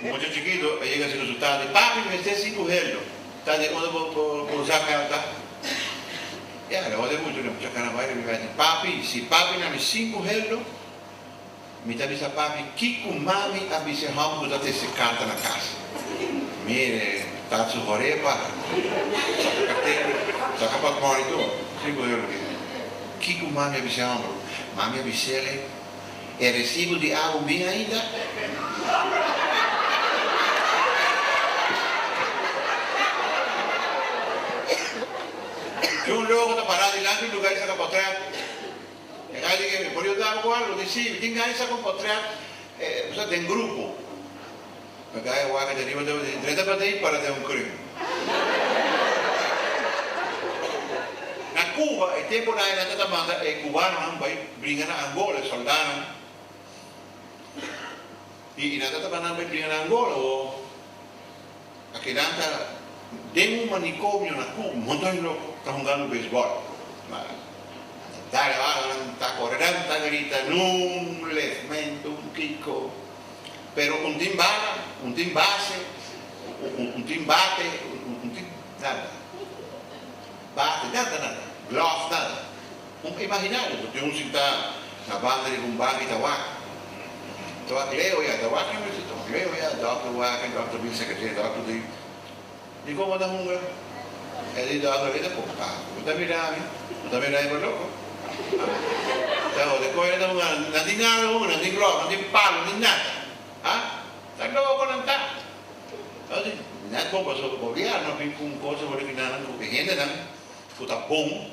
Mucha chikitu a yega sin resultado di papi mester si ku heldo ta di unda bo por usa karta ya lo hori mucho no mucha karamba riba mi di papi si papi na mi sin ku heldo mi ta bisa papi kico mami a bise hom ku ta tese karta na kas mire ta su hori e para soka ka tende soka pa kori tur sin ku heldo kico mami a bise hom mami a bise le. E resibo di awa min ainda? Di un loko ta pará dilanti un luga i saka potrèt. E kai di kemi? Por yo dal bo algu? Mi tin gana di saka un potrèt den grupo. Lo dai e waka deriba dor di drenta pa dei para den un kring. Na Cuba e tempo na e nan ta ta manda e cubanonan bai bringa na Angola e soldanan y y nan ta ta mandan bai bringa na Angola o a kedan ta den un manicomio na Cu un monton di loco ta hungando baseball ma nan ta dare waka nan ta corre dan ta grita nun les mento un kiko. Pero un tin bala, un tin base, un tin bate, un tin nada. Bate, nada, nada. Glove, nada. Un imaginario, bo tin un si ta na banda riba un baki ta wak. Ta wak leo ya, ta wak riba un si ta wak leo ya, dòkter wak, dòkter bin sakaje, dòkter bin. Mi como ta hunga. El i dor oye ta coge taco. Mi ta mira ami. Mi ta mira ebe loco. Haa. Te oye coe nan ta hunga. Nan tin gana di hunga. Nan tin ropa. Nan tin palo. Nan tin nada. Haa. Ta loco nan ta. Tabata di. Net con paso. Gobierno a bin cu un cosa. Bo ta mira nan como que hendenan. Cu ta bon.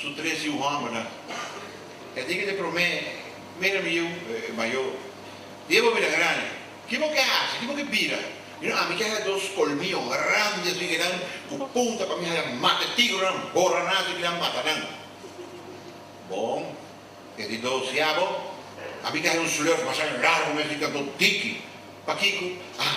Su tres yu hòmbernan. E tin kende promé, Mira mi yu mayó. Di e bòbina grandi, Ki bo ke hasi? Ki bo ke bira? Mira, ami ke haya dos kolmio grandi asin ke nan ku punta pa mi haya mata e tigrunan, bora nan asin mi nan mata nan. Bon, e di dos, Ya bo, ami ke haya un slurf masha largu mi asin kantu diki. Pakiko? Ah!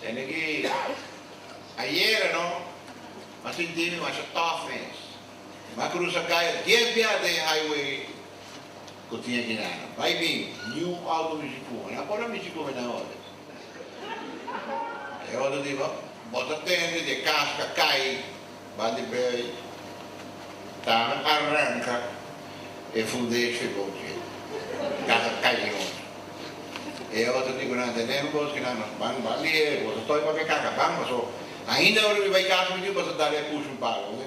Tende ki a yega no, mas sinti mi masha tough mes. Mi a cruza calle dies biaha den e highway cu tin aki na no. Bay bin, new auto mi sicu, mi na por a mi sicu mi na orde. E otro di, Bo ta tende di e cas ca cay. Ba di bay tana arranca e fundesha e boschi taha cañon. E otro tipo nan tene un boschi nan mas ban ba di e cosa toy papia caca ban paso ainda ora mi bay casa mi dios basta dale e push un palo oye.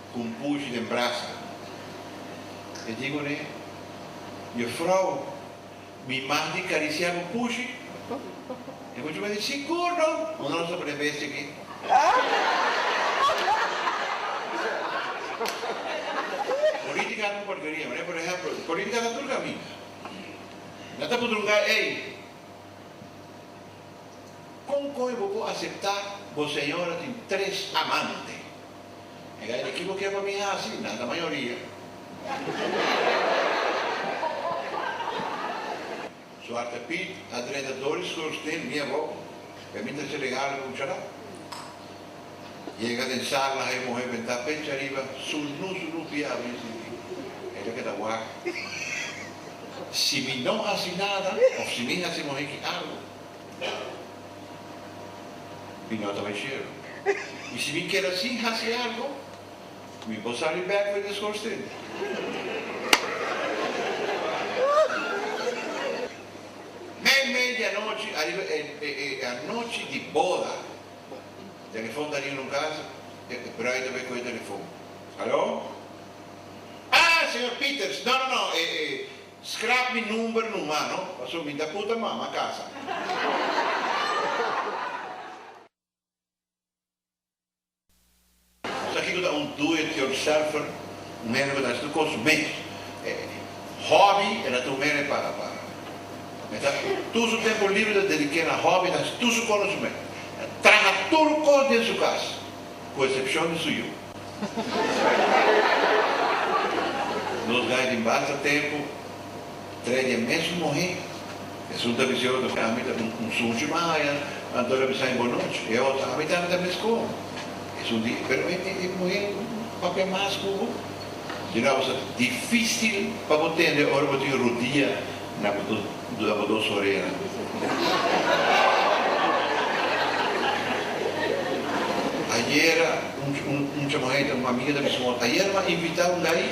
Cu un pushi den brasa, e dico ne, Jufrou, mi mas di cariciá bo pushi? E mucha mester sigur no, unda nos ta pone besti aki? Politica cu porkeria, mané, por ehemplo, politica ta tur caminda. Nan ta pudrunga, Ey, con coe bo por aceptá bo señora tin tres amante? E gay di kico ke pa mi haci? Nada mayoria. Suarte Piet a drenta Doris Gulsteen mi abou, pe mi ta haci regalo pa un chara. Yega den sala ha e muhe benta pecha riba su nu su nu pia abri sin tin. E ta keda wak. Si mi no haci nada of si mi haci mohe ki algo. Mi no ta meshero. I si mi keda sin hasi algu, mi por sali bek den e skorsten. Mei mei di anochi, ariba e anochi di boda, telefon ta ring un kasa, e bruid ta bai kohe telefon. Haló? Ah, señor Pieters. No, no, no, e. Scrap mi number nu mano, paso mi ta cu ta mama casa. Nos a kico ta un do it yourselfer, un mero cu ta haci su cos mes. E hobby e na ta un mero pa e ta tur su tempo libre ta dedica na hobby, e ta haci tur su conoscimento, e ta traha tur cos den su cas, cu excepcion di su yu. Nos gai tin basta tempu trede e mesun muhé. Esun ta bis'é otro ku ami ta un suchi mas haña, anto el a bisa mi bonoch. E otro, ami tambe ta mes komo. Esun di, Pero e muhé papia mas ku bo. Di nou, abo ta difísil pa bo tende ora bo tin rudia. Na cu tur dura bo dos orea. Ayera un chamaita, un amiga ta bisa bo, ayer m'a invita un dai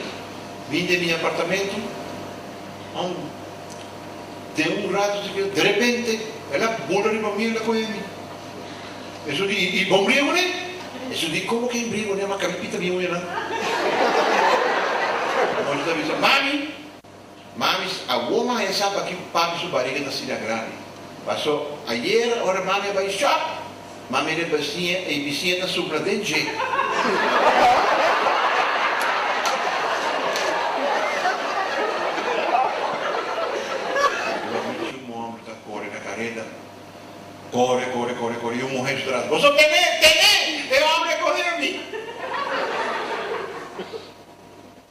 bin den mi apartamento, ma den un rato sikier derepente el a bula riba mi, el a coge mi. Esun di, y bo mbriego ne? Esun di, como que mbriego ne? M'a cami pita bien hoy anan. Anochi ta bisa, Mami. Mamis, awor mami a sa pakico papi su bariga ta asina grandi. Paso, ayer ora mami a bay shop, mami riba bisiña e y bisiña ta supla den dje.